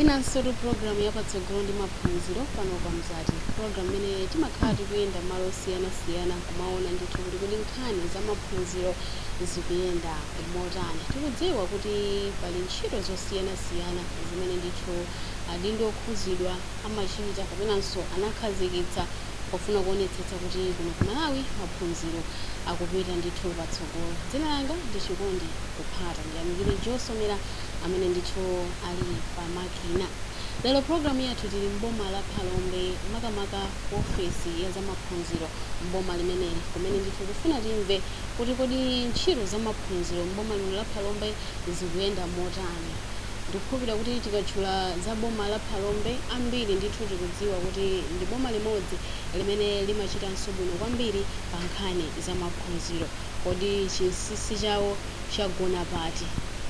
inansotu program yapatsogolo ndi maphunziro pano pa mzati program imene timakhala tikuyenda malo osiyanasiyana kumaona ndithu kuti kodi nkhani za maphunziro zikuyenda motani tikudziwa kuti pali ntchito zosiyanasiyana zimene ndithu adindo okhuzidwa amachita kapenanso anakhazikitsa pofuna kuonetsetsa kuti kuno ku Malawi maphunziro akupita ndithu patsogolo. Dzina langa ndi Chikondi Kuphata. Ndiyamikire Joe Somera amene ndithu ali pamakina. Lero programu yathu tili m'boma la Phalombe makamaka ofesi ya zamaphunziro m'boma limeneli kumene ndithu kufuna timve kuti kodi ntchito zamaphunziro m'boma lino la Phalombe zikuyenda motani. Ndikukhulupirira kuti tikatchula za boma la Phalombe, ambiri ndithu tikudziwa kuti ndi boma limodzi limene limachitanso bwino kwambiri pa nkhani za maphunziro. Kodi chinsinsi chawo chagona pati?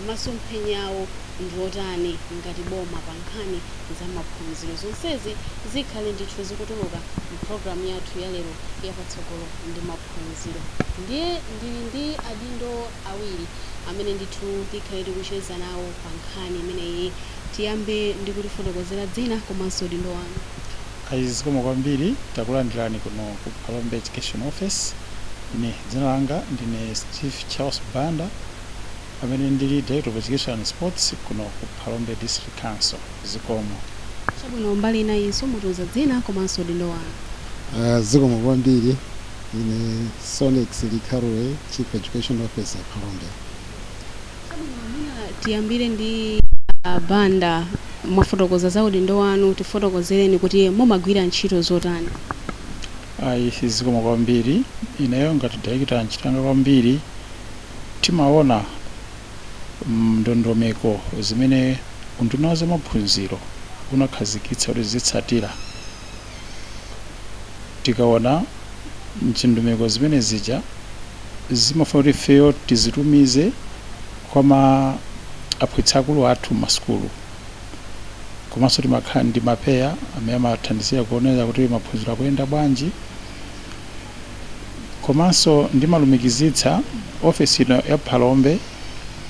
Masomphenya awo ndi otani ngati boma pa nkhani za maphunziro? Zonsezi zikhale ndithu zikutuluka m'programu yathu yalero ya Patsogolo ndi Maphunziro. phunziro. Ndiye ndili ndi adindo awiri amene ndithu tikhale tikucheza nawo pa nkhani imeneyi. Tiyambe ndi kutifotokozera dzina komanso udindo wanu. Ayi zikomo kwambiri, takulandirani kuno ku Phalombe Education Office. Ine dzina langa ndine Steve Charles Banda amene ndi Director of Education and Sports kuno ku. Phalombe District Council. Zikomo. Chabwino, mbali inayinso mutiuza dzina komanso udindo wanu. Ah, zikomo kwambiri. Ine Sonex Likhalwe, Chief Education Officer, Phalombe. Tiyambire ndi Banda. Mwafotokoza za udindo wanu, tifotokozereni kuti mumagwira ntchito zotani? Ayi, zikomo kwambiri. Ineyo ngati Director ntchito yanga kwambiri timaona ndondomeko zimene Unduna wa Zamaphunziro unakhazikitsa kuti zizitsatira. Tikaona ndondomeko zimene zija zimafuna kuti ifeyo tizitumize kwa aphunzitsi akulu athu m'masukulu komanso timakhala ndi mapeya amene amathandizira kuonera kuti maphunziro akuyenda bwanji. Komanso ndimalumikizitsa ofesi ino ya Phalombe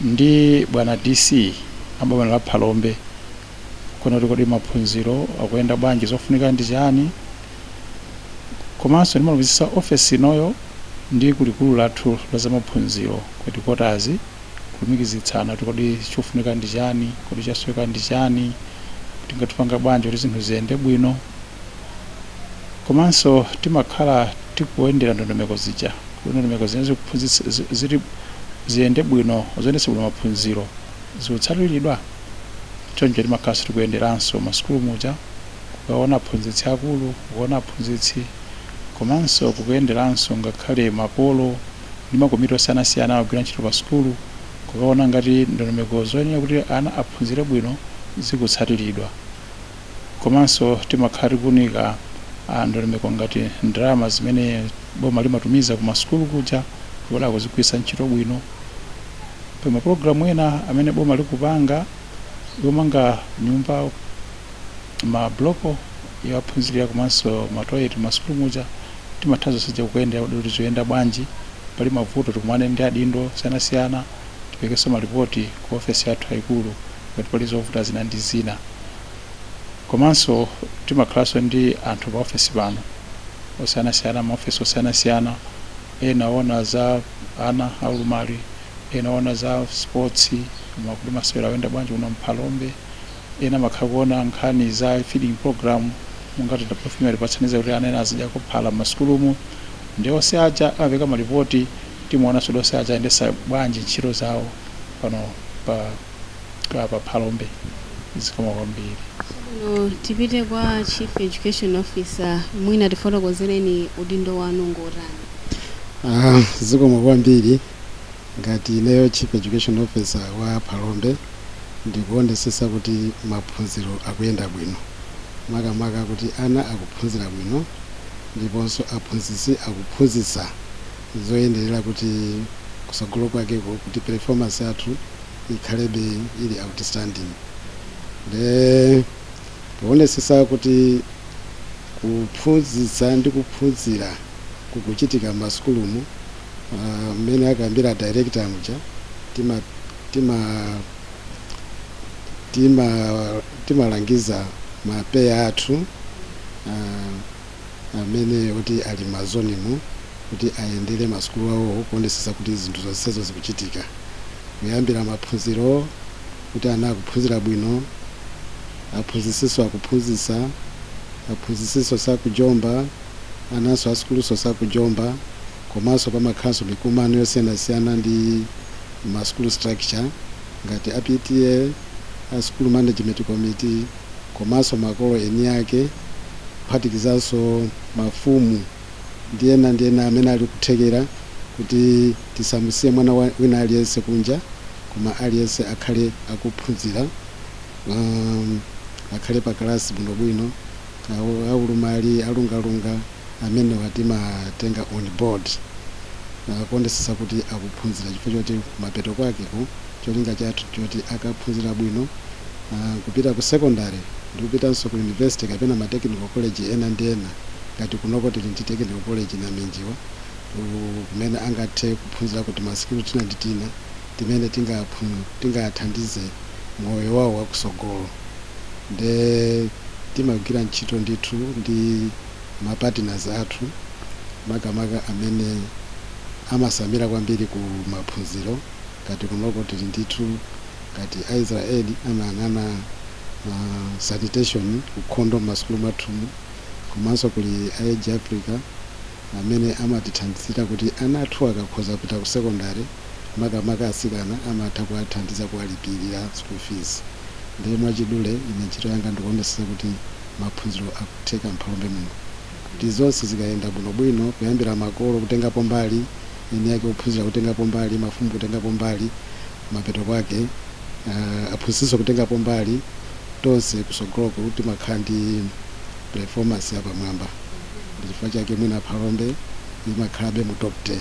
ndi bwana DC a m'boma la Phalombe kuona kuti kodi maphunziro akuyenda bwanji, zofunika ndi chani. Komanso ndimalumikizitsa ofesi inoyo ndi kulikulu lathu la zamaphunziro ku headquarters, kulumikizitsana kuti kodi chofunika ndi chani, kodi chasoweka ndi chani, tingathe kupanga bwanji kuti zinthu ziyende bwino. komanso timakhala tikuyendera ndondomeko zija kuti ndondomeko zimene zili zoti ziyende bwino zoyendetsa bwino maphunziro zikutsatiridwa choncho timakhalanso tikuyenderanso masukulu muja kukaona aphunzitsi akulu kukaona aphunzitsi komanso kukuyenderanso ngakhale makolo ndi makomiti osiyanasiyana akugwira ntchito pa sukulu kukaona ngati ndondomeko zoyenera kuti ana aphunzire bwino zikutsatiridwa komanso timakhala tikuunika a ndondomeko ngati ndalama zimene boma limatumiza ku masukulu kuja kuti akuzigwiritsa ntchito bwino pa mapulogalamu ena amene boma likupanga yomanga nyumba mabuloko yowaphunzirira komanso matoyeti masukulu muja timatha zonse zija kukuyendera kuti zoyenda bwanji pali mavuto tikumane ndi adindo osiyanasiyana tiperekenso malipoti ku ofesi yathu yayikulu ngati pali zovuta zina ndi zina. Komanso timakhalanso ndi anthu pa ofesi pano osiyanasiyana, maofesi osiyanasiyana, ena oona za ana aulumali, ena oona za sports, ma- kuti masewera akuyenda bwanji kuno m'Phalombe, ena amakhala kuona nkhani za feeding program ngati kuti ana ena azidyako phala m'masukulumu ndi onse aja amapeka malipoti timaonanso kuti onse aja ayendesa bwanji ntchito zawo pano pa apa phalombe zikomo kwambiri Chabwino, tipite kwa chief education officer mwina tifotokozereni udindo wanu ngotani Ah, zikomo kwambiri ngati ineyo chief education officer wa phalombe ndikuonetsetsa kuti maphunziro akuyenda bwino makamaka kuti ana akuphunzira bwino ndiponso aphunzitsi akuphunzitsa zoyenerera kuti kusogolo kwakeko kuti performance yathu ikhalebe ili outstanding nde powonetsetsa kuti kuphunzitsa ndi kuphunzira kukuchitika m'masukulumu ah, mmene akambira director muja tima tima tima timalangiza mapeya athu ah, amene oti ali m'ma zone mu kuti ayendere ma sukulu awo kuonesesa kuti zinthu zonsezo zikuchitika kuyambira maphunziro kuti ana akuphunzira bwino, aphunzisinso akuphunzisa, aphunzisinso sakujomba, ananso a sukulunso sakujomba komanso pamakhalanso mikumano yosiyanasiyana ndi ma sukulu structure ngati a PTA, a sukulu management committee. komanso makolo eni ake kuphatikizanso mafumu ndi ena ndi ena amene ali kuthekera kuti tisamusiye mwana wa, wina aliyense kunja koma aliyense akhale akuphunzira akhale pa kalasi bwinobwino aulumali alungalunga amenewa timatenga on board kuonesetsa kuti akuphunzira chifukwa choti mapeto kwakeko cholinga chathu nchoti akaphunzira bwino kupita ku secondary ndi kupitanso ku university kapena ma technical college ena ndi ena ngati kunoko tili ndi technical college Naminjiwa kumene angathe kuphunzirako tima skill tina ndi tina timene tingawathandize moyo wawo wakusogolo nde timagwira ntchito ndithu ndi ma partners athu makamaka amene amatsamira kwambiri ku maphunziro ngati kunoko tili ndithu ngati aisrael amayang'ana sanitation, ukhondo mmasukulu mwathumu komanso kuli a age africa amene amatithandizira kuti ana athu akakhoza kupita ku secondary makamaka atsikana amatha kuwathandiza kuwalipirira school fees ndiye mwachidule ine ntchito yanga ndikuonetsetsa kuti maphunziro akutheka mphalombe muno kuti zonse zikayenda bwino bwino kuyambira makolo kutengapo mbali eni ake ophunzira kutengapo mbali mafumu kutengapo mbali mapeto kwake uh, aphunzitsinso kutengapo mbali tonse kusogoloku timakhala ndi performance yapamwamba ndi chifukwa chake mwina phalombe imakhalabe mu top 10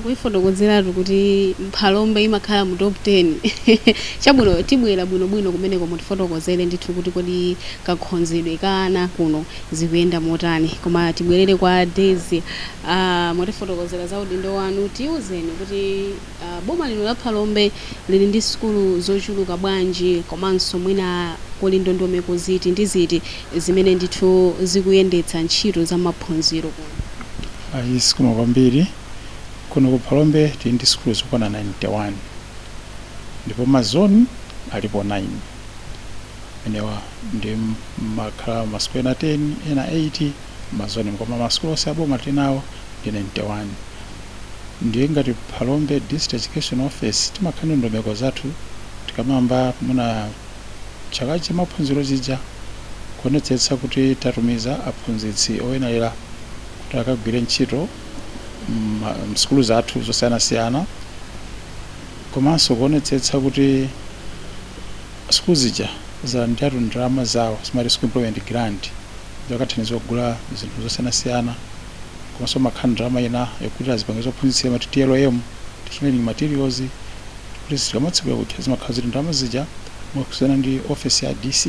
kuifotokozeratu kuti mphalombe imakhala mu top 10 chabwino tibwera bwinobwino kumeneko mutifotokozere ndithu kuti kodi kakhozedwe ka ana kuno zikuyenda motani koma tibwerere kwa daisy uh, mwatifotokozera za udindo wanu tiuzeni kuti Boma lino la Phalombe lili ndi sukulu zochuluka bwanji komanso mwina kuli ndondomeko ziti ndi ziti zimene ndithu zikuyendetsa ntchito za maphunziro kuno? Ayi zikomo kwambiri. Kuno ku Phalombe tili ndi sukulu zokwana 91 ndipo ma zone alipo 9. Amenewa ndiye mumakhala ma sukulu ena 10, ena 8. mazonemu koma masukulu onse aboma tili nawo ndi 91 ndiye ngati phalombe district education office timakhala ndi ndondomeko zathu tikamayamba mwina chaka cha maphunziro chija kuonetsetsa kuti tatumiza aphunzitsi oyenera kuti akagwire ntchito mma- msukulu zathu zosiyanasiyana komanso kuonetsetsa kuti sukulu zija zalandira ndalama zawo timati school improvement grant Zokathandiza kugula zinthu zosiyanasiyana komanso pamakhala ndalama ina yogulira zipangizo zophunzitsira timati TLM, Teaching Learning Materials, kuti tikamatsegula kuja zimakhala zili ndalama zija mogwirizana ndi ofesi ya DC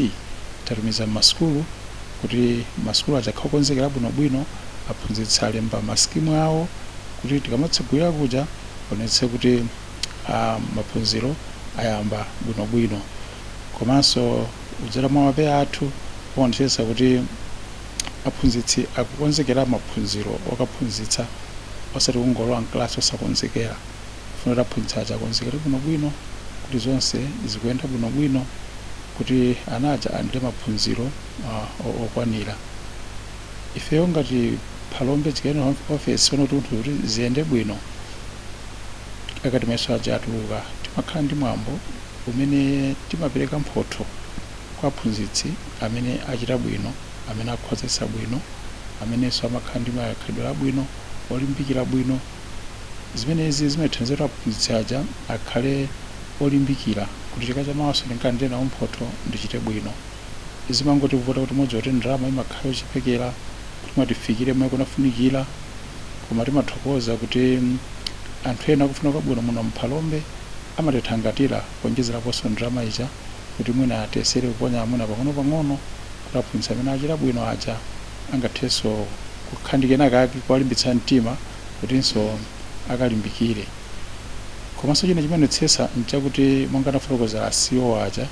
tatumiza m'masukulu kuti masukulu aja akhale okonzekera bwinobwino, aphunzitsi alemba masikimu awo kuti tikamatsegulira kuja aonetse kuti ah, maphunziro ayamba bwinobwino komanso kudzera mwa ma PEA athu amaonetsetsa kuti aphunzitsi akukonzekera maphunziro okaphunzitsa osati kungolowa mkalasi osakonzekera kufuna kuti aphunzitsi aja akonzekere bwinobwino kuti zonse zikuyenda bwinobwino kuti ana aja alandire maphunziro uh, o- okwanira ifeyo ngati phalombe education office sono kuti kuti kuti ziyende bwino akati mayeso aja atuluka timakhala ndi mwambo umene timapereka mphotho kwa aphunzitsi amene achita bwino, amene akhozetsa bwino, amenenso amakhala ndi makhalidwe abwino, olimbikira bwino. Zimenezi zimathandiza kuti aphunzitsi aja akhale olimbikira kuti chaka chamawanso ndikalandire nawo mphotho, ndichite bwino. zimangotivuta kuti mukudziwa kuti ndalama imakhala yochepekera kuti mwina tifikire mmene kunafunikira koma timathokoza kuti anthu ena akufuna kwabwino muno mphalombe amatithangatira kuonjezeraponso ndalama ija kuti mwina tiyesere kuponya mwina pang'onopang'ono kuti aphunzitsi amene achita bwino aja angathenso kukhala ndi kenakake kuwalimbitsa mtima kutinso akalimbikire komanso china timaonetsetsa nchakuti monga anafotokozera a CEO aja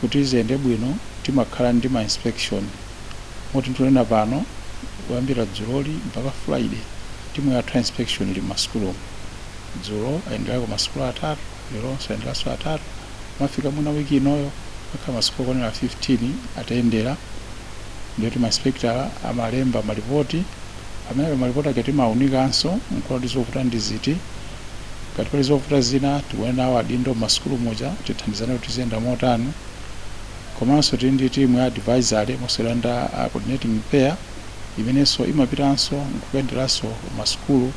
kuti ziyende bwino timakhala ndi ma inspection moti ndikunena pano kuyambira dzuloli mpaka friday timu yathu ya inspection ili mmasukulumu dzulo ayenderako masukulu atatu leronso ayenderanso atatu pomafika mwina week inoyo akhala masukulu okwanira 15 atayendera ndiyoti ma inspector amalemba malipoti amene ah malipoti aja timaunikanso nkuona kuti zovuta ndi ziti ngati pali zovuta zina tikumane nawo adindo m'masukulu muja tithandizane kuti ziyenda motani komanso tili ndi timu ya advisory mostly under a coordinating PEA imenenso imapitanso nkukayenderanso masukulu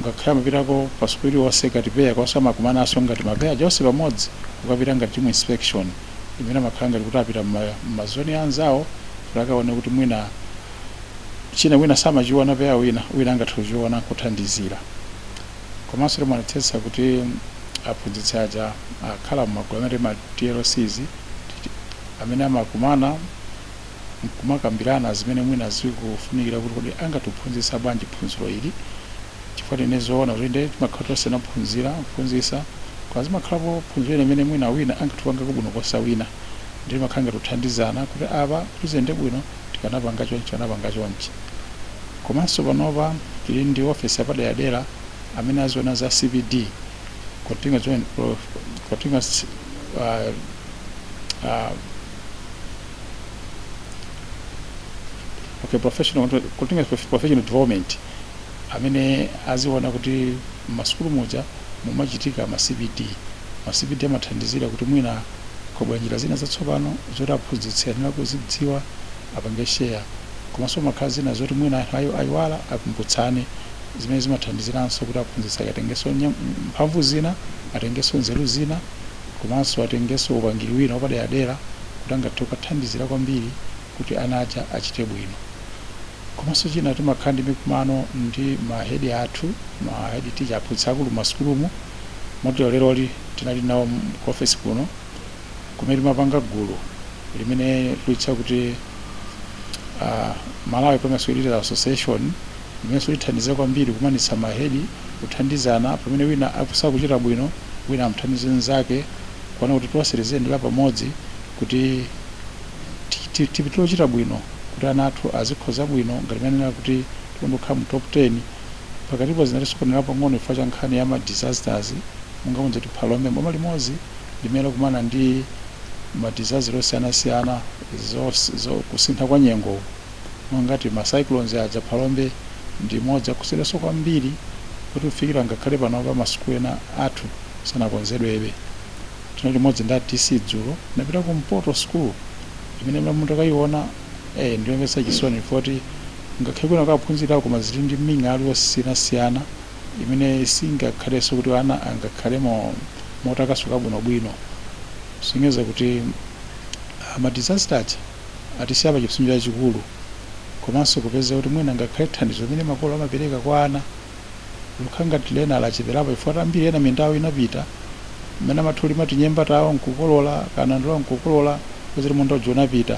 ngakhale amapitako pa sukulu iliyonse ngati PEA komanso amakumananso ngati ma PEA aja onse pamodzi kukapita ngati timu inspection imene amakhala ngati kuti apita m'ma- m'mazoni anzawo kuti akaone kuti mwina china wina samachiona PEA wina wina angathe kuchiona nkuthandizira komanso timaonetsetsa kuti aphunzitsi aja akhala mmagulu amene ma tlcs amene amakumana nkumakambirana zimene mwina zikufunikira kuti kodi angathe kuphunzitsa bwanji phunziro ili chifukwa tinene zoona kuti nde timakhala tonse tinaphunzira kuphunzitsa koma zimakhalapo phunziro ina imene mwina wina angathe kupangako bwino kuposa wina nde timakhala ngati kuthandizana kuti apa kuti ziyende bwino tikanapanga chonchi tikanapanga chonchi komanso panopa tili ndi office yapaderadera amene azionanso za CPD continuous, continuous uh, uh, okay, professional, continuous professional development amene aziona kuti masukulu muja mumachitika ma CPD ma CPD amathandizira kuti mwina Kwabwera njira zina zatsopano zoti aphunzitsi ayenera kuzidziwa apange share, komanso pamakhala zina zoti mwina anthu ayi ayiwala akumbutsane zimene zimathandiziranso kuti aphunzitsi aja atengenso mphamvu zina, atengenso nzeru zina komanso atengenso upangiri wina wapaderadera kuti angathe kukathandizira kwambiri kuti ana aja achite bwino. Komanso china timakhala ndi mikumano ndi ma head athu, ma head teacher, aphunzitsi akulu m'masukulumu, moti leroli tinali nawo ku ofesi kuno kumene timapanga gulu limene tikulitcha kuti uh, Malawi Primary School Leaders Association limenenso lithandize kwambiri kukumanitsa ma head, kuthandizana pamene wina akusowa kuchita bwino, wina amthandize mnzake kuona kuti tonse tiziyendera pamodzi kuti tipitilize kuchita bwino kuti ana athu azikhoza bwino ngati mmanenera kuti tinkakonda kukhala mu top 10 pakatipo zinatisokonera pang'ono chifukwa cha nkhani ya ma disasters monga mudziwa kuti Phalombe ndi boma limodzi limene likukumana ndi ma disaster osiyanasiyana zo, zo kusintha kwa nyengo mongati ma cyclones aja Phalombe ndi imodzi yakhudzidwanso kwambiri kuti kufikira ngakhale panopa masukulu ena athu sanakonzedwebe Tinali limodzi ndi a DC dzulo, tinapita ku Mpoto school imene inu mutakaiona eh ndiyomvetsa chisoni chifukwa kuti ngakhale kwinako akuphunzira koma ili ndi ming'alu yosiyanasiyana imene singakhalenso kuti ana angakhalemo motakasuka bwinobwino. Kusonyeza kuti ah, ma disaster aja atisiya pa chipsinjo chachikulu komanso kupeza kuti mwina ngakhale thandizo limene makolo amapereka kwa ana Likukhala ngati lina lacheperapo chifukwa choti ambiri ena minda yawo inapita mmene amatha kulima tinyemba tawo nkukolola kanandolo nkukolola kupeza kuti munda uja unapita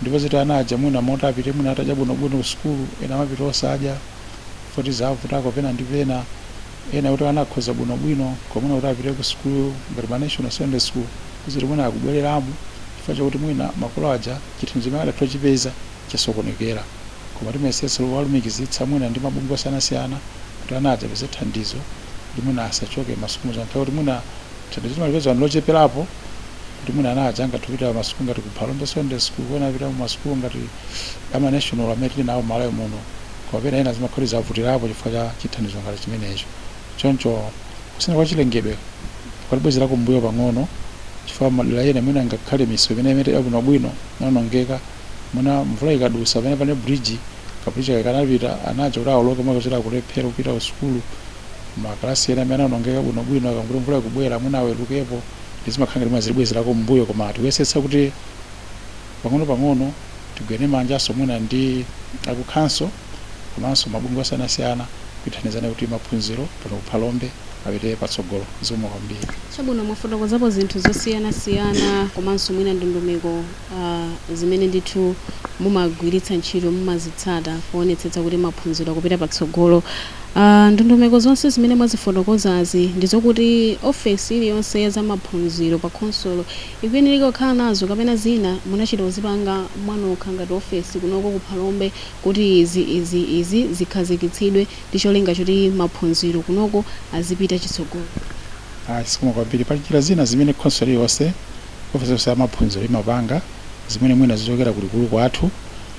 ndi kupeza kuti ana aja mwina moti apite mwina atadya bwinobwino ku sukulu ena amapita osadya poti zavutako pena ndi pena ena kuti ana akhoze bwinobwino koma mwina kuti apite ku sukulu ngati ma national secondary school kupeza kuti mwina akubwereramo chifukwa chakuti mwina makolo aja chithandizo chimene amatha kuchipeza chasokonekera koma timayesetsa kuwalumikizitsa mwina ndi mabungwe osiyanasiyana kuti ana aja apeze thandizo kuti mwina asachoke masukulu muja ndi nkhawa kuti mwina thandizo timalipeza ndi locheperapo kuti mwina ana aja angathe kupita masukulu ngati ku Phalombe Secondary School kapena apita masukulu ngati ama national amene tili nawo m'Malawi muno koma pena ena zimakhala kuti zavutirapo chifukwa cha chithandizo ngati chimenecho choncho kusintha kwa chilengedwe kwatibwezera kumbuyo pang'ono chifukwa madera ena mwina ngakhale misewu imene inali yabwinobwino inaonongeka mwina mvula ikadusa pamene pane bridge kabridge kake kanapita ana aja kuti awoloke mwina kuti akulephera kupita ku sukulu makalasi ena amene anaonongeka bwinobwino akangoti mvula ikubwera mwina awerukepo nde zimakhala ngati mwina zikubwezerako m'mbuyo koma tikuyesetsa kuti pang'onopang'ono tigwirane manjanso mwina ndi aku khonsolo komanso mabungwe osiyanasiyana kuthandizana kuti maphunziro pano ku Phalombe apite patsogolo zikomo kwambiri Chabwino, mwafotokozapo zinthu zosiyanasiyana komanso mwina ndondomeko a Zimene ndithu mumagwiritsa ntchito mumazitsata poonetsetsa kuti maphunziro akupita patsogolo a Ndondomeko zonse zimene mwazifotokozazi ndi zokuti ofesi iliyonse ya za maphunziro pa khonsolo ikuyenereka kukhala nazo kapena zina munachita kuzipanga mwanokha ngati ofesi kunoko ku Phalombe kuti izi, izi, izi zikhazikitsidwe ndi cholinga choti maphunziro kunoko azipita chitsogolo? Ah, zikomo kwambiri. Pali njira zina zimene khonsolo iliyonse, ofesi yonse ya maphunziro imapanga zimene mwina zichokera kulikulu kwathu,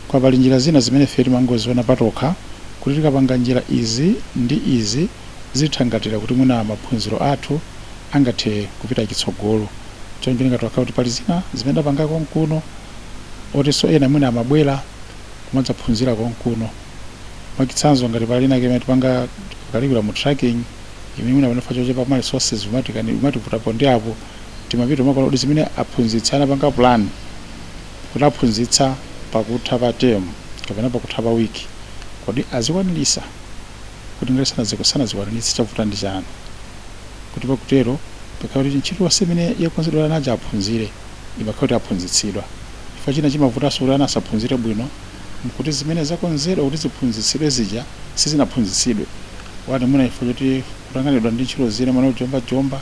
koma pali njira zina zimene ifeyo timangoziona patokha kuti tikapanga njira izi ndi izi zithangatira kuti mwina maphunziro athu angathe kupita chitsogolo. Choncho ndingathe kukamba kuti pali zina zimene timapanga konkuno otinso ena mwina amabwera kumadzaphunzira konkuno. mwachitsanzo ngati pali inake imene timapanga curriculum tracking imene mwina pano chifukwa chochepa ma resources umatikani umativutapo ndi apo timapita kumakaona kuti zimene aphunzitsi anapanga plan kuti aphunzitsa pakutha pa term kapena pakutha pa wiki kodi azikwaniritsa kuti ngati sanaziko sanazikwaniritse chavuta ndi chani kuti pakutero pakhala kuti ntchito yonse imene yakonzedwa ana aja aphunzire imakhala kuti aphunzitsidwa chifukwa china chimavutanso kuti ana asaphunzire bwino n'kuti zimene zakonzedwa kuti ziphunzitsidwe zija sizinaphunzitsidwe, 1 mwina chifukwa choti kutanganidwa ndi ntchito zina, mwina kujombajomba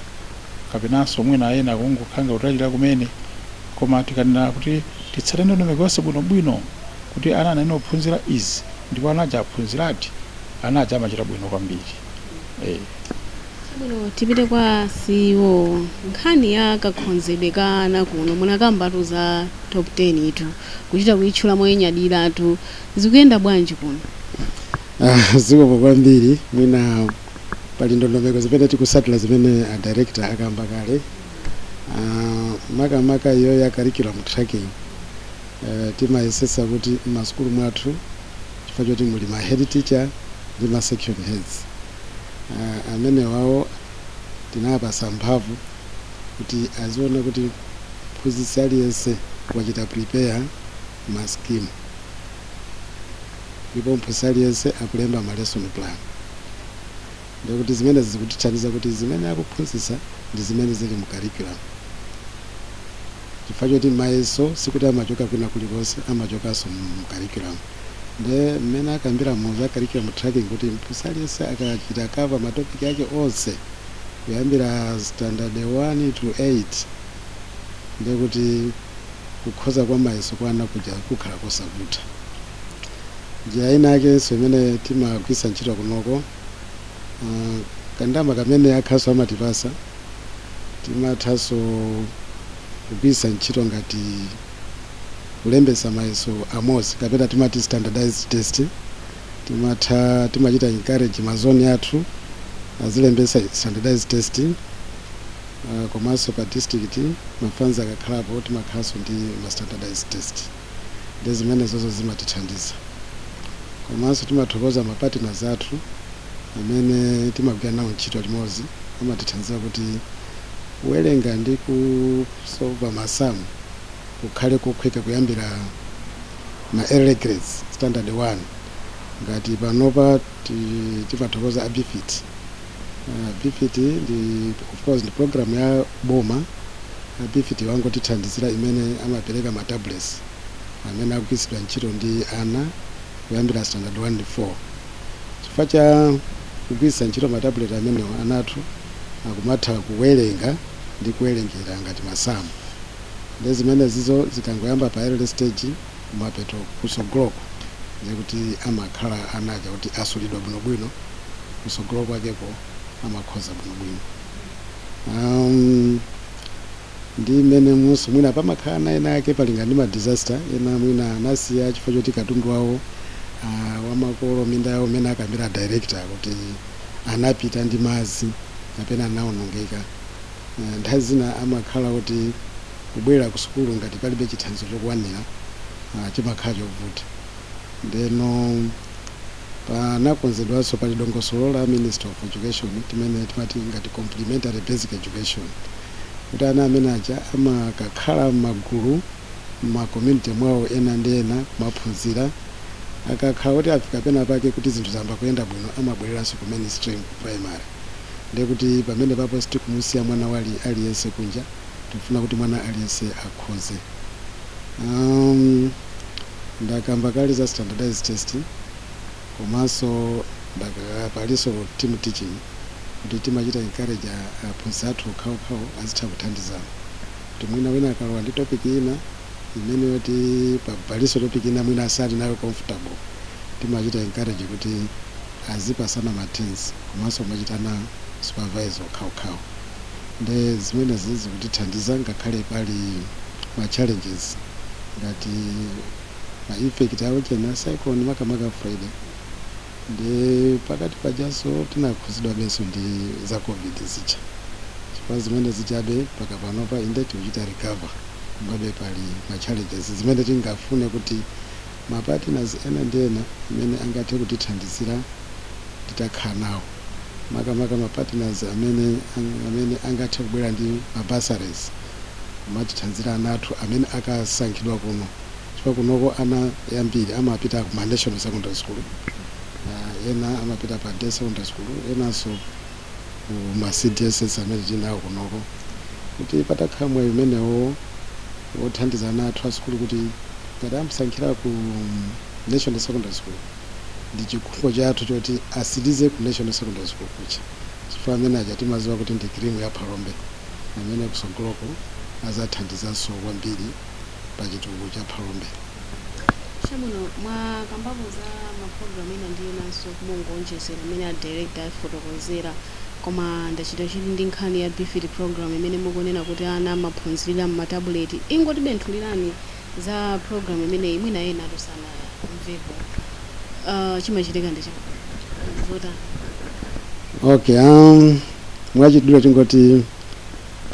kapenanso mwina ena kungokhala kutayirira kumene. Koma tikanena kuti titsate ndondomeko yonse bwinobwino kuti ana ayenera aphunzire izi ndipo ana aja aphunziradi, ana aja amachita bwino kwambiri. Eh. Chabwino, tipite kwa CEO nkhani ya kakhonzedwe ka ana kuno munakambatu za top 10 tu kuchita kuitchula moinyadiratu zikuyenda bwanji kuno Ah, zikomo kwambiri mwina pali ndondomeko zimene tikusatira zimene a director akamba kale Ah, makamaka iyo ya curriculum tracking Eh, timayesesa kuti m'masukulu mwathu chifukwa choti muli ma head teacher ndi ma section heads uh, amenewawo tinawapasa mphamvu kuti aziona kuti mphunzitsi aliyense wachita prepare ma scheme ndipo mphunzitsi aliyense akulemba ma lesson plan ndiye kuti zimenezi zikutithandiza kuti zimene akuphunzitsa ndi zimene zili mu curriculum chifukwa choti mayeso sikuti amachoka kwina kulikonse amachokanso mu curriculum nde mmene akambira muja za curriculum tracking kuti mphunzitsi aliyense akachita cover ma topic ake onse kuyambira standard 1 to 8 nde kuti kukhoza kwa mayeso kwa ana kuja kukhala kosavuta njira ina yakenso imene timagwiritsa ntchito kunoko Ah, kandama kamene akakhalanso amatipasa timathaso kugwiritsa ntchito ngati kulembetsa mayeso amodzi kapena timati standardized test timatha timachita encourage mazoni athu azilembetsa standardized test ah, komanso pa district ma funds akakhalapo timakhalanso ndi ma standardized test ndi zimenezozo zimatithandiza komanso timathokoza mapartners athu amene timagwira nawo ntchito limodzi amatithandiza kuti kuwerenga ndi kusova masamu kukhale kokhweka kuyambira ma early grades standard 1 ngati panopa Ti timathokoza a Bfit. Ah, Bfit ndi of course ndi program ya boma. A Bfit wangotithandizira imene amapereka ma tablets amene akugwiritsidwa ntchito ndi ana kuyambira standard 1 ndi 4. Chifukwa cha kugwiritsa ntchito ma tablet amenewo ana athu akumatha kuwerenga ndi kuwerengera ngati masamu. Nde zimenezizo zikangoyamba pa early stage kumapeto kusogoloko ndiye kuti amakhala ana aja kuti asulidwa bwinobwino kusogolo kwakeko amakhoza bwinobwino um, ndi mmenemunso mwina pamakhala ana ena ake malinga ndi madisaster ena mwina anasiya chifukwa choti katundu wawo uh, wamakolo minda yawo mmene akambira director kuti anapita ndi madzi kapena anaonongeka uh, nthawi zina amakhala kuti kubwera ku sukulu ngati palibe chithandizo chokwanira chimakhala chovuta ndeno panakonzedwanso pali dongosolo la Ministry of Education imene timati ngati Complementary Basic Education kuti ana amene aja amakakhala m'magulu m'ma community mwawo ena ndi ena kumaphunzira akakhala kuti afika pena pake kuti zinthu zayamba kuyenda bwino amabwereranso ku mainstream ku primary ndekuti pamenepapo sitikumusiya mwana wina aliyense kunja tikufuna kuti mwana aliyense akhoze um, ndakamba kale za standardized test komanso palinso team teaching kuti timachita encourage aphunzitsi athu okhaokhawo azitha kuthandizana kuti mwina wina akalowa ndi topic ina imene yoti palinso topic ina mwina asali nayo comfortable timachita encourage kuti azipasana ma turns komanso kumachitana supervise okhaokhawo nde zimenezi zikutithandiza ngakhale pali ma challenges ngati ma effect a ujeni cyclone makamaka Freddy nde pakati pajaso tinakhuzidwabeso ndi za Covid zija chifukwa zimene zijabe mpaka panopa inde tikuchita recover komabe pali ma challenges zimene tingafune kuti ma partners ena ndi ena amene angathe kutithandizira titakhala nawo makamaka ma partners amene amene angathe kubwera ndi ma bursaries kumatithandizira ana athu amene akusankhidwa kuno chifukwa kunoko ana ambiri amapita ku ma national secondary school, ena amapita pa day secondary school enanso. ku ma CDSS amene tinawo kunoko kuti patakhala mwayi umenewo wothandiza ana athu a sukulu kuti ngati amusankhira ku National Secondary School ndi chikhumbo chathu choti asirize ku National Secondary School kuja chifukwa amene aja timaziwa kuti ndi cream ya Phalombe amene kusogoloko azathandizanso kwambiri pa chitukuko cha Phalombe. Chabwino, mwakambapo za mapulogalamu ena ndi enanso kumangowonjezera mmene a director afotokozera koma ndachita chidwi ndi nkhani ya BEFIT program imene mukunena kuti ana amaphunzirira m'matabuleti. Ingotibenthuliraniko za program imeneyi mwina enatu sanamvepo. Ah, chimachitika ndi chani? Zotani? Okay, um, mwachidule tingoti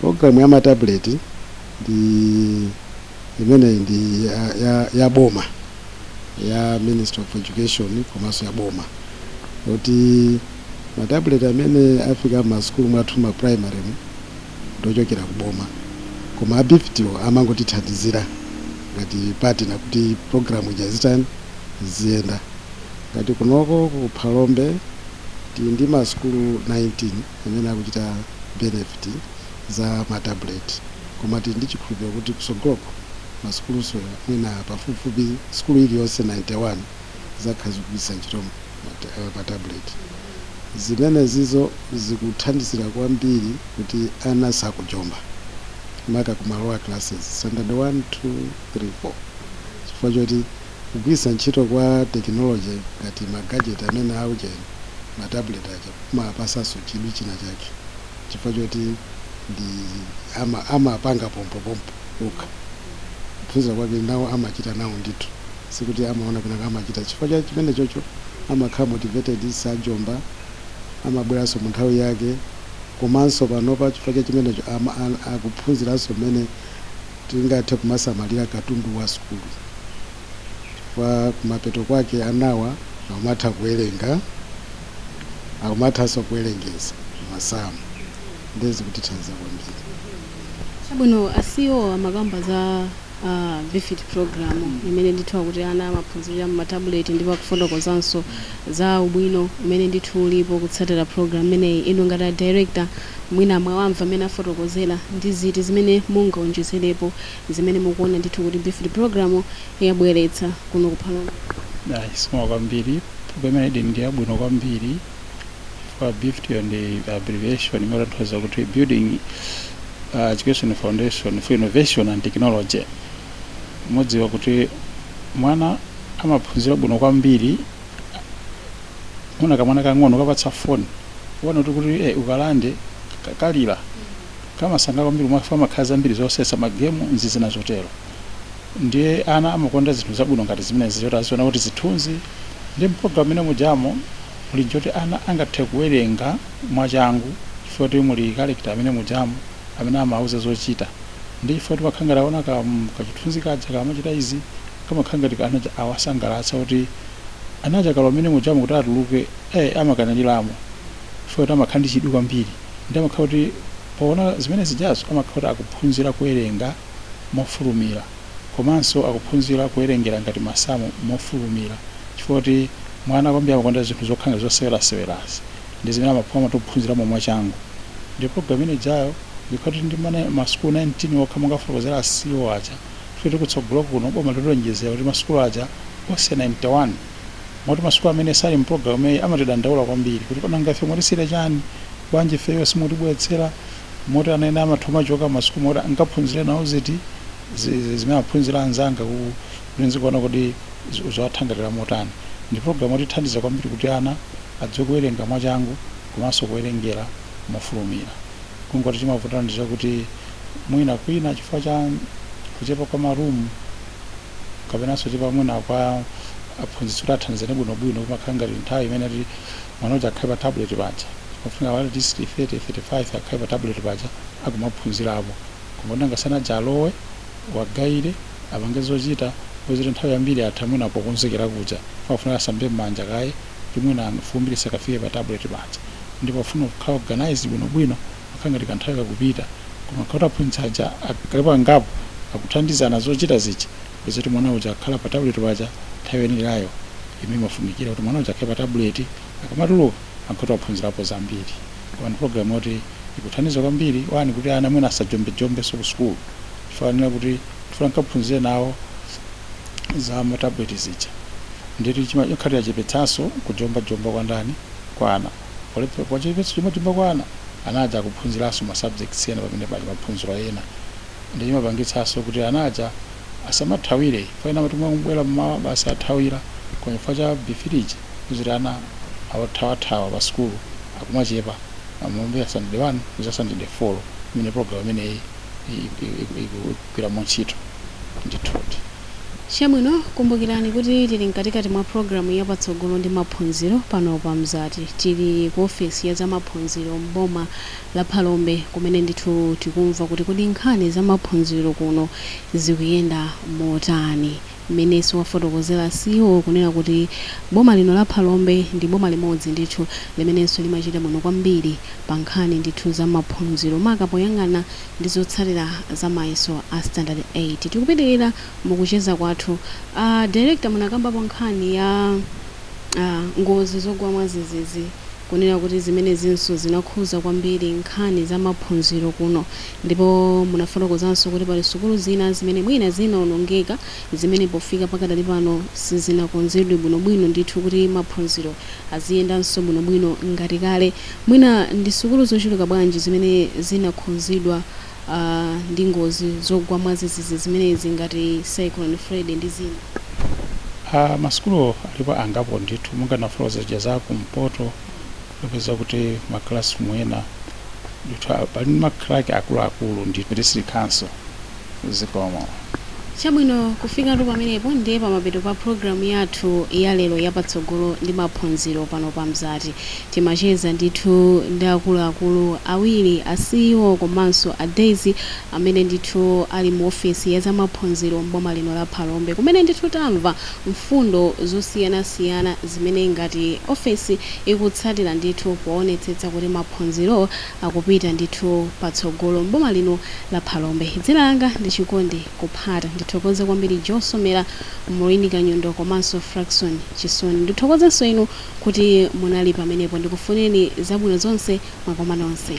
program ya matabuleti ndi imene ndi ya, ya, ya boma ya Ministry of Education komanso ya boma yoti matabuleti amene afika m'masukulu mwathu ma primary mu ndochokera ku boma koma a BEFIT-wo amangotithandizira ngati partner kuti program ija izitani iziyenda ngati kunoko ku Phalombe tili ndi masukulu 19 amene akuchita benefit za matabuleti koma tili ndi chikhulupiriro kuti kusogoloko masukulunso mwina pafupifupi sukulu iliyonse 91 zizakhala zikugwiritsa ntchito matabuleti. Zimenezizo zikuthandizira kwambiri kuti ana sakujomba maka ku ma lower classes, standard 1, 2, 3, 4, chifukwa choti kugwiritsa ntchito kwa tekinoloje ngati magajeti amene a ujeni, matabuleti aja, kumawapatsanso chidwi china chake. chifukwa choti ndi ama amapanga pompo pompo okha kuphunzira kwake nawo amachita nawo ndithu sikuti amaona kwina amachita chifukwa cha chimene chocho amakhala motivated sajomba amabweranso mu nthawi yake komanso panopa chifukwa cha chimenecho ama a- akuphunziranso mmene tingathe kumasamalira katundu wa sukulu chifukwa kumapeto kwake anawa akumatha kuwerenga akumathanso kuwerengeza masamu ndiye zikutithandiza kwambiri Chabwino asiwo amakamba za uh, befit program imene ndithu kuti ana amaphunzirira mu matabuleti ndipo akufotokozanso za ubwino umene ndithu ulipo kutsatira program imeneyi inu ngati a director mwina mwawamva mmene afotokozera ndi ziti zimene mungaonjezerepo zimene mukuona ndithu kuti befit program yabweretsa kuno ku phalombe Ayi, zikomo kwambiri programu imeneyi ndi yabwino kwambiri kwa BEFIT yo ndi abbreviation imene imatanthauza kuti building uh, education foundation for innovation and technology mudziwa kuti mwana amaphunzira bwino kwambiri muona kamwana kang'ono ukakapatsa foni uona kuti kuti eh, ukalande ka- kalira kamasangalala kwambiri chifukwa mumakhala zambiri zoseweretsa magemu ndi zina zotero ndiye ana amakonda zinthu zabwino ngati zimenezi zoti aziona kuti zithunzi ndiye mpologalamu imene mujamo muli ndi yoti ana angathe kuwerenga mwachangu chifukwa kuti muli character mmene mujamo amene amauza zochita ndi chifukwa kuti amakhala ngati aona ka- kachithunzi kaja kamachita izi kamakhala ngati anaja awasangalatsa kuti anaja akalowa mmene mujamo kuti atuluke eh, amakanirira momo chifukwa kuti amakhala ndi chidwi kwambiri ndiye amakhala kuti powona zimene zijazo amakhala kuti akuphunzira kuwerenga mofulumira komanso akuphunzira kuwerengera ngati masamu mofulumira chifukwa kuti mwana kwambiri amakonda zinthu zokhala ngati zosewerasewerazi ndi zimene amaphunzira amatophunziramo mwachangu ndiye program imene ijayo ikhala kuti ndi mana- masukulu 19 okha monga afotokozera asiwo aja chifukwa kuti kutsogolo kuno boma lilonjezera kuti masukulu aja onse 91 moti masukulu amene sali mu program imeneyi amatidandaula kwambiri kuti kodi nanga ife mwatisiyira chani bwanji ifeyo simutibweretsera moti ana ena amatha amachoka masukulu moti akaphunzire nawo ziti zi- zi- zimene aphunzira anzawo ku- kuti nkuona kodi zi- ziwathangatira motani ndi program yotithandiza kwambiri kuti ana adziwe kuwerenga mwachangu komanso kuwerengera mofulumira kungoti chimavutano ndi chakuti mwina kwina chifukwa cha kuchepa kwa marumu kapenanso kuchepa mwina kwa aphunzitsi kuti athandizane bwinobwino kumakhala ngati nthawi imene ati mwana uja akhale pa tablet paja pafunika awale at least 30 35 akhale pa tablet paja akumaphunzirapo koma kuti nanga anaja alowe awagaire apange zochita kuti nthawi yambiri atha mwina pokonzekera kuja pafuna asambe m'manja kaye kuti mwina fumbi lisakafike pa tablet paja ndiye pofuna kukhala organized bwinobwino amakhala ngati kanthawi kakupita koma nkhala kuti aphunzitsi aja akakhalapo angapo akuthandizana zochita zija kupeza kuti mwana uja akhala pa tabuleti paja nthawi yoyenerayo imene imafunikira kuti mwana uja akhale pa tabuleti akamatuluka amakhala kuti waphunzirapo zambiri koma ndi pulogalamu yoti ikuthandiza kwambiri wani kuti ana mwina asajombejombenso ku sukulu chifukwa anena kuti tifuna tikaphunzire nawo za matabuleti zija ndiye chima- chikumachepetsanso kujombajomba kwa ndani kwa ana olephera pa chipepetso chomwe timbakwana ana aja akuphunziranso ma subjects ena pamene pali maphunziro ena ndi chimapangitsanso kuti ana aja asamathawire ifeyo amati mwana kubwera mmawa basi athawira koma chifukwa cha BEFIT ija kuti ana othawathawa pa sukulu akumachepa kuyambira standard 1 kudza standard 4 imene program imeneyi ikugwiramo ntchito ndithudi Chabwino, kumbukirani kuti tiri mkatikati mwa programu ya Patsogolo ndi Maphunziro pano pa Mzati. Tiri ku ofesi ya za maphunziro m'boma la Phalombe, kumene ndithu tikumva kuti kodi nkhani za maphunziro kuno zikuyenda motani. Mmene wafotokozera CEO kunena kuti boma lino la Phalombe ndi boma limodzi ndithu limenenso limachita bwino kwambiri pa nkhani ndithu za maphunziro maka poyang'ana ndi zotsatira za mayeso a standard 8. Tikupitilira mukucheza kwathu a director munakambapo nkhani ya uh, ngozi zogwa mwazizizi kunena kuti zimenezinso zinakhuza kwambiri nkhani za maphunziro kuno ndipo munafotokozanso kuti pali sukulu zina zimene mwina zinaonongeka zimene pofika pakadali pano sizinakonzedwe bwinobwino ndithu kuti maphunziro aziyendanso bwino bwino ngati kale. Mwina ndi sukulu zochuluka bwanji zimene zinakhudzidwa ndi ngozi zogwa mwazizizi zimenezi ngati Cyclone Freddy ndi zina? Ma sukulu alipo angapo ndithu monga ndinafotokoza zija za ku mpoto mukapeza kuti ma classroom ena ndithu ali ndi ma crack akuluakulu ndithu kuti silikanso. Zikomo. Chabwino, kufikatu pamenepo ndiye pamapeto pa programu yathu ya lero ya Patsogolo ndi Maphunziro pano pa Mzati. Timacheza ndithu ndi akuluakulu awiri, a CEO komanso a DES, amene ndithu ali mu ofesi ya zamaphunziro m'boma lino la Phalombe, kumene ndithu tamva mfundo zosiyanasiyana zimene ngati ofesi ikutsatira ndithu poonetsetsa kuti maphunziro akupita ndithu patsogolo m'boma lino la Phalombe. Dzina langa ndi Chikondi Kuphata. Ndithokoze kwambiri Joe Somera, Maureen Kanyundo komanso Frackson Chisoni. Ndithokozenso inu kuti munali pamenepo. Ndikufunireni zabwino zonse mwakoma nonse.